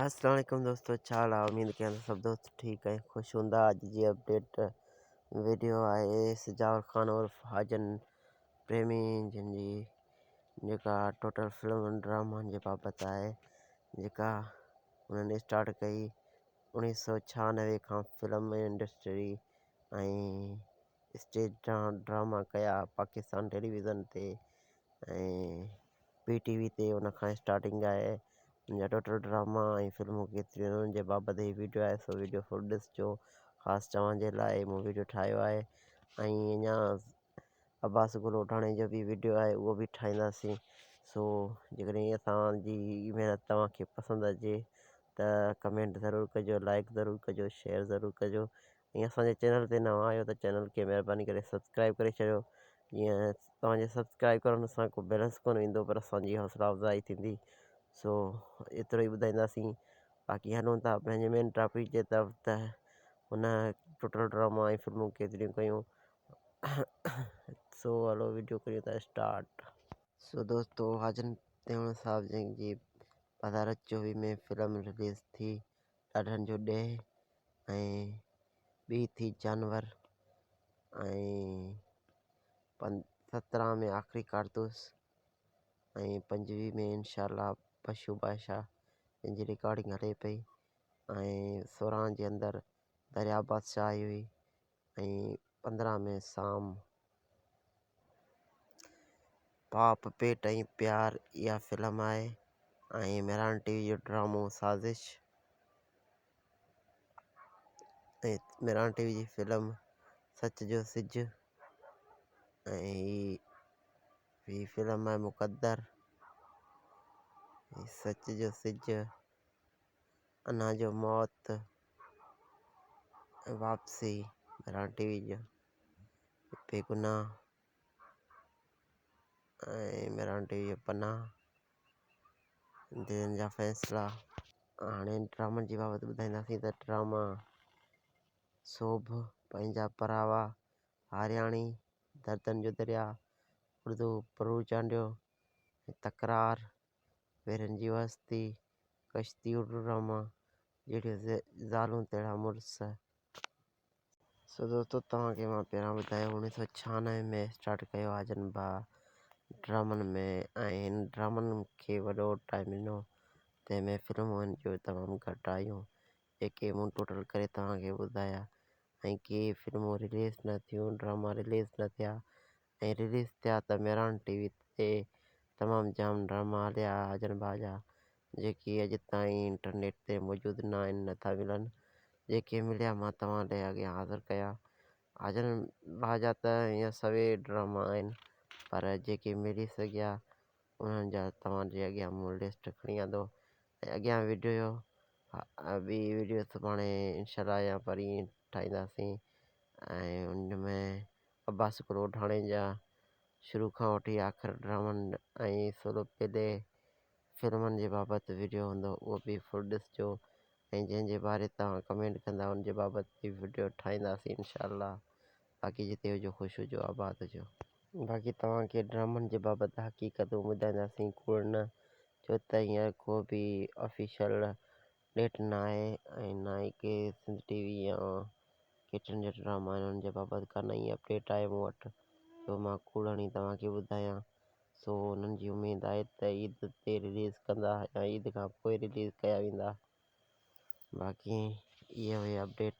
السلام عليڪم دوستو ڇا حال آهي اميد ڪيان ته سڀ دوست ٺيڪ ۽ خوش هوندا اڄ جي اپڊيٽ ويڊيو آهي سجاور خان عرف حاجن پريمي جن جي جيڪا ٽوٽل فلم ڊرامن جي بابت آهي جيڪا انهن اسٽارٽ ڪئي اڻيهه سو ڇهانوي کان فلم انڊسٽري ۽ اسٽيج ڊراما ڪيا پاڪستان ٽيليويزن تي ۽ پي ٽي وي تي ان کان اسٽارٽنگ آهي ان جا ٽوٽل ڊراما ۽ فلمون ڪيتريون آهن ان جي بابت هي ويڊيو آهي سو ويڊيو فل ڏسجو خاص توهان جي لاء مون ويڊيو ٺاهيو آهي ۽ اڃا عباس گل اوڍاڻي جو بي ويڊيو آهي اهو به ٺاهينداسين سو جيڪڏهن هي اسان جي هي محنت توهان کي پسند اچي ته ڪمينٽ ضرور ڪجو لائڪ ضرور ڪجو شيئر ضرور ڪجو ۽ اسان جي چينل تي نوان آهيو ته چينل کي مهرباني ڪري سبسڪرائيب ڪري ڇڏيو جيئن توهان جي سبسڪرائيب ڪرڻ سان ڪو بيلنس ڪونه ويندو پر اسان جي حوصلا افزائي ٿيندي سو ايترو ئي ٻڌائينداسين باقي هلون ٿا پنهنجي مين ٽاپڪ جي طرف ته هن ٽوٽل ڊراما ۽ فلمون ڪيتريون ڪيون سو هلو ويڊيو ڪريون ٿا اسٽارٽ سو دوستو حاجن تيوڻ صاحب جن جي پڌارت چوويهه ۾ فلم رليز ٿي ڏاڍن جو ڏيهه ۽ ٻي ٿي جانور ۽ سترهن ۾ آخري ڪارتوس ۽ پنجويهه ۾ انشاء الله پشو بادشاهه جنهن جي رڪارڊنگ هلي پئي ۽ سورهن جي اندر دريا بادشاهه آئي هئي ۽ پندرهن ۾ سام، پاپ، پيٽ ۽ پيار اها فلم آهي ۽ مهراڻ ٽي وي جو ڊرامو سازش ۽ مهراڻ ٽي وي جي فلم سچ جو سج ۽ هي فلم آهي مقدر سچ جو سج انهن جو موت ۽ واپسي مهراڻ ٽي وي جي بي گناهه ۽ مهراڻ ٽي وي جي پناهه دلين جا فيصلا هاڻي ڊرامن جي بابت ٻڌائينداسين ته ڊراما سوڀ پنهنجا پراوا هارياڻي دردن جو دريا اردو پرو چانڊيو تڪرار پيرن جي واسطي، ڪشتي اڙڙ راما، جهڙيون زالون تهڙا مڙس. سو دوستو توهان کي مان پهريان ٻڌايو اوڻيهه سؤ ڇهانوي ۾ اسٽارٽ ڪيو آ جن با ڊرامن ۾ ۽ هن ڊرامن کي وڏو ٽائيم ڏنو تنهن ۾ فلمون هن جون تمام گهٽ آيون جيڪي مون ٽوٽل ڪري توهان کي ٻڌايا ۽ ڪي فلمون رليز نه ٿيون ڊراما رليز نه ٿيا ۽ رليز ٿيا ته ميران ٽي وي تي تمام جام ڊراما هليا اجن ڀا جا جيڪي اڄ تائين انٽرنيٽ تي موجود نه آهن نه ٿا ملن جيڪي مليا مان توهان لئي اڳيان حاضر ڪيا اجن ڀا جا ته هيئن سوين ڊراما آهن پر جيڪي ملي سگهيا انهن جا توهان جي اڳيان مون لسٽ کڻي آندو ۽ اڳيان ويڊيو ٻي ويڊيو سڀاڻي انشاء الله يا پرين ٺاهينداسين ۽ ان ۾ عباس ڪروڏاڻي جا شروع کان وٺي آخر ڊرامن ۽ سولو پلي فلمن جي بابت وڊيو هوندو اهو به فل ڏسجو ۽ جنهن جي باري توهان ڪمينٽ ڪندا ان جي بابت به وڊيو ٺاهينداسين انشاء الله باقي جتي هجو خوش هجو آباد هجو. باقي توهان کي ڊرامن جي بابت حقيقتون ٻڌائينداسين ڪوڙ نه ڇو ته هينئر ڪو به آفيشل ڏيٽ ناهي ۽ نه ئي ڪي سنڌ ٽي وي يا ڪي ٽن جا ڊراما آهن ان جي بابت ڪا نئين اپڊيٽ آهي مون وٽ جو مان ڪوڙ هڻي توهان کي ٻڌايان سو انهن جي اميد آهي ته عيد تي رليز ڪندا يا عيد کان پوء رليز ڪيا ويندا باقي اهي هئي اپڊيٽ.